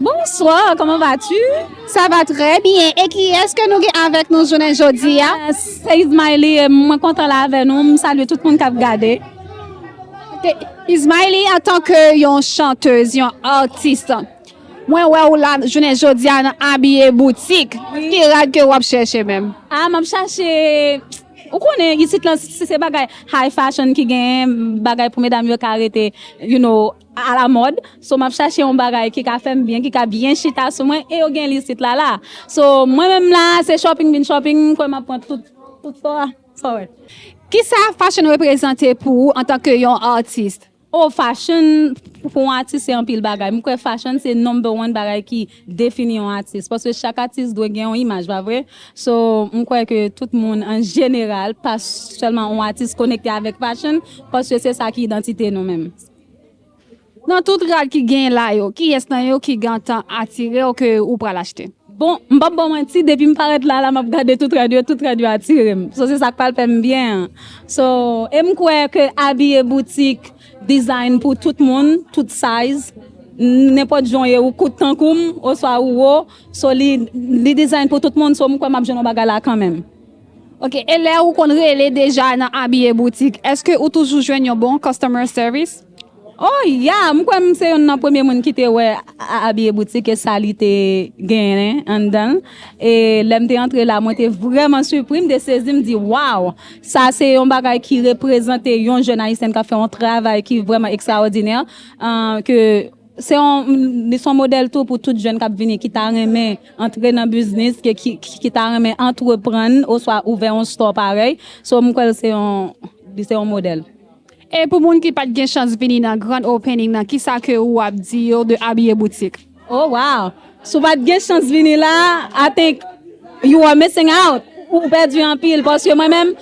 Bonsoir comment vas tu? Sa va trè byen e kiyès ke nou gen avèk nou jounen jodi a? Se Ismaili e mwen kontan la avè nou, m salye tout moun kap gade. Ok, Ismaili antan ke yon chanteuse, yon artiste, mwen wè ou la jounen jodi a nan abiye boutik, ki rad ke wap chèche menm? Ah map chache, ou konnen isit lan se bagay high fashion ki genyen, bagay pou medam yo ka rete you know. A la mòd, so map chache yon bagay ki ka fèm byen, ki ka byen chita sou mwen e yo genl isit la la. So mwen menm la se shopping vin shopping, m kwè map pran tout so a so wè. Kisa fashion reprezante pou ou antanke yon artist? Oh fashion pou yon atis se anpil bagay, m kwè fashion se number one bagay ki defini yon atis paske chak atis dwe gen yon imaj pa vre? So m kwè ke tout moun an jeneral pa sèlman yon atis konekte avèk fashion paske se sa ki idantite nou menm. Nan tout rad ki genyen la yo, kiyès nan yo ki gentan atire w ke ou pral achte? Bon, m pap ba w manti, depi m parèt la a la m ap gade tout rad yo, tout rad yo atire m. So se sa k pral fè m byen an. So, e m kwè ke abiye boutik design pou tout moun, tout size, nenpòt jan w ye, ou kout tankou m oswa ou wo, so li design pou tout moun, so m kwè m ap jwenn yon bagay la a kanmenm. Ok e lè ou konn rele deja nan abiye boutik eske ou toujou jwenn yon bon customer service? Oh ya, m kwè m se yonn nan premye moun ki te wè abiye boutik e sa li te genyen anndan l. E lè m te antre la mwen te vrèman sipri, m te sezi m di waw! Sa se yon bagay ki reprezante yon jèn ayisyèn k ap fè yon travay ki vrèman ekstraòdinè ke Se yon, li son modèl tou pou tout jèn k ap vini ki ta renmen antre nan biznis, ki ta renmen antreprann oswa ouvè yon store parèy. So m kwè l se yon, li se yon modèl. E pou moun ki pat gen chans vini nan grand opening nan kisa ke ou ap di yo de Abiye Boutik? Oh wow! Si w pa t gen chans vini la a, I think you are missing out, ou pèdi anpil paske mwen menm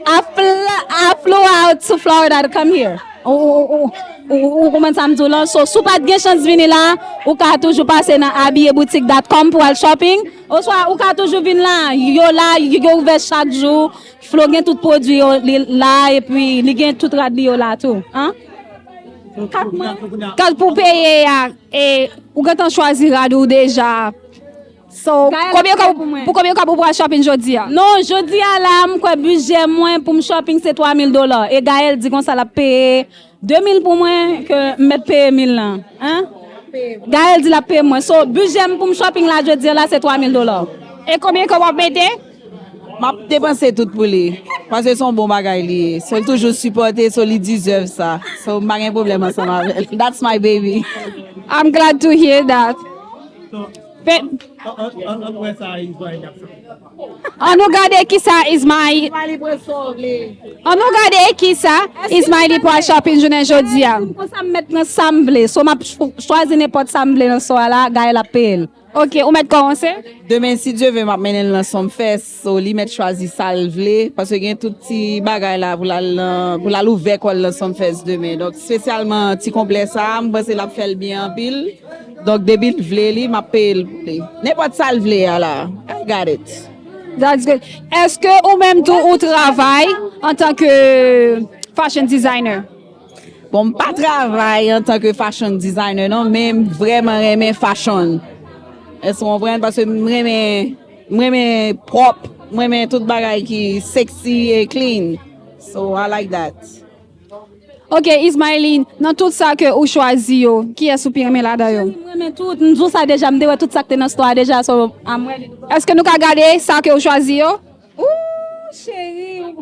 I fly, I flew out to Florida to come here ou konprann sa m di w lan so si w pa t gen chans vini la a, ou ka toujou pase nan abiyeboutik dot com pou w al shopping oswa ou ka toujou vin la a, yo la a, yo ouvè chak jou, Flo gen tout pwodui yo li la a epi li gen tout rad li yo la a tou. Kat pou peye a. E ou gentan chwazi rad ou deja. So, konbyen kob pou konbyen kob ou pral shopping jodi a? Non, jodi a la a m kwè bujè mwen pou m shopping se 3 mil dola. E Gaëlle di konsa l ap peye 2 mil pou mwen ke m mèt peye mil lan. Hein? Gaëlle di l ap peye mwen. So, bujè m pou m shopping la jodi a la se 3 mil dola. E konbyen kob w ap mete? Map depanse tout pou li paske son bon bagay li ye so toujou sipòte so li deserve sa so m pa gen pwoblèm ansanm avèl that's my baby. I'm glad to hear that An nou gade kisa Ismaëly pral shopping jounen jodia. Konsam mèt pran sam vle so map chwazi nenpòt sam vle nan swa la Gaëlle ap peyel. Ok ou mèt kòmanse? Demen si Dye ve map mennen l nan Sump Fest so li mèt chwazi sa l vle paske gen tout ti bagay la pou l al nan pou l al ouvè kò l nan Sump Fest demen donk spesyalman ti konplè sa m panse l ap fè l byen anpil donk depi l vle li map peye l pou li nenpòt sa l vle a la I got it. That's good. Eske ou menm tou ou travay antanke fashion designer? Bon m pa travay antan ke fashion designer non men m vreman renmen fashion èske w konprann paske m renmen m renmen pwòp m renmen tout bagay ki sexy e clean so i like that. Ok Ismaeline nan tout sa ke ou chwazi yo kiyès ou pi renmen ladan yo? M renmen tout, m di w sa deja m te wè tout sa k te nan store a deja so I'm ready to buy. Èske nou ka gade sa ke ou chwazi yo? Ooh chérie ou.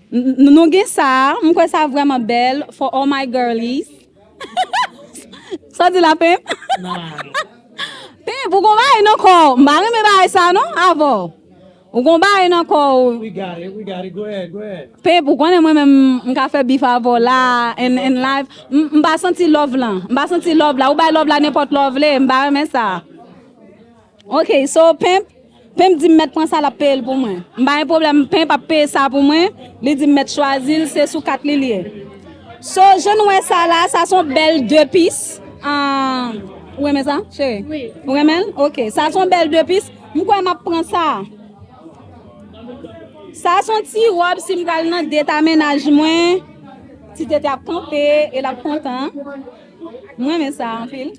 Nou gen sa a, m kwè sa vrèman bèl for all my girlies Sa w di la Pimp? Pimp ou gon bagay nan kò w, m pa renmen bagay sa non avè w Ou gon bagay nan kò w Pimp ou konnen mwen menm m ka fè bif avè w la in live M pa santi love lan, m pa santi love la Ou bay love la nenpòt lè w vle, m pa renmen sa. Ok so pimp Pimp dim mèt pran sa lap peyel pou mwen m pa gen pwoblèm pimp ap peye sa pou mwen li dim mèt chwazil se sou kat li l ye so jan nou wè sa la sa son bèl de pis aah ou renmen sa cheri ou renmen l ok sa son bèl de pis m kwè map pran sa sa son ti rob sim pral nan det a mennaj mwen ti tete ap kanpe e lap kontan m renmen sa anpil.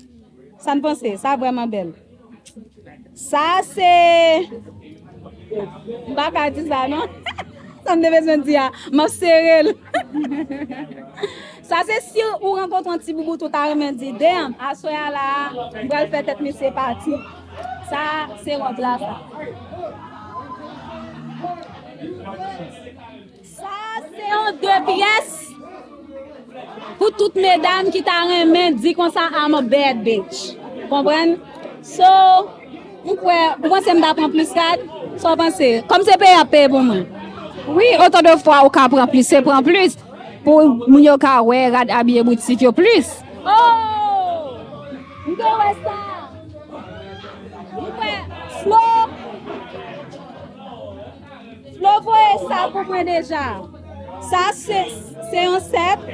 Sa n panse? Sa vrèman bèl. Sa se M pa ka di sa non. Sa m te bezwen di a. M ap sere l. Sa se si ou rankontre yon ti boubout ou ta renmen di, Damn, aswè a la a, m pral fè tèt misye pati. Sa se wont la sa. Sa a se yon de pyès pou tout medam ki ta renmen di konsa I'm a bad bitch. Konprann? So, m kwè, ou panse m ta pran plis kad? Sa w panse? Kòm se peye ap peye pou mwen. Wi, otan de fwa ou ka pran plis, se pran plis pou moun yo ka wè rad abiye boutik yo plis. Oh! M te wè sa. M kwè, Flo, Flo voye sa pou mwen deja. Sa se se yon sèp.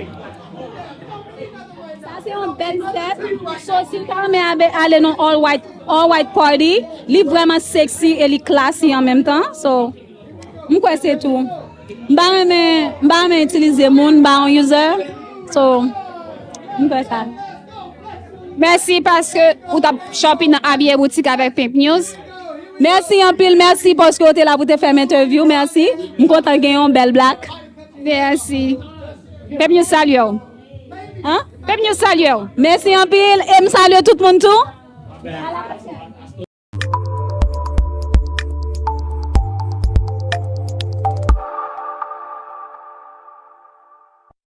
Sa se yon bèl sèp. So si ta mè abe ale non all white all white party, li vreman sexy e li classy an menm tan. So m kwè se tou. M pa renmen m pa renmen itilize moun, m pa yon user. So m kwè sa. Mèsi paske ou tap shopping nan Abiye Boutique avèk Pink News. Mèsi anpil, mèsi paske ou te la pou te fèm entèvyou, mèsi. M kontan gen yon bèl black. Mèsi. Pink News salye ou. An? Pink News salye ou. Mèsi anpil e m salye tout moun tou. A la pwochèn.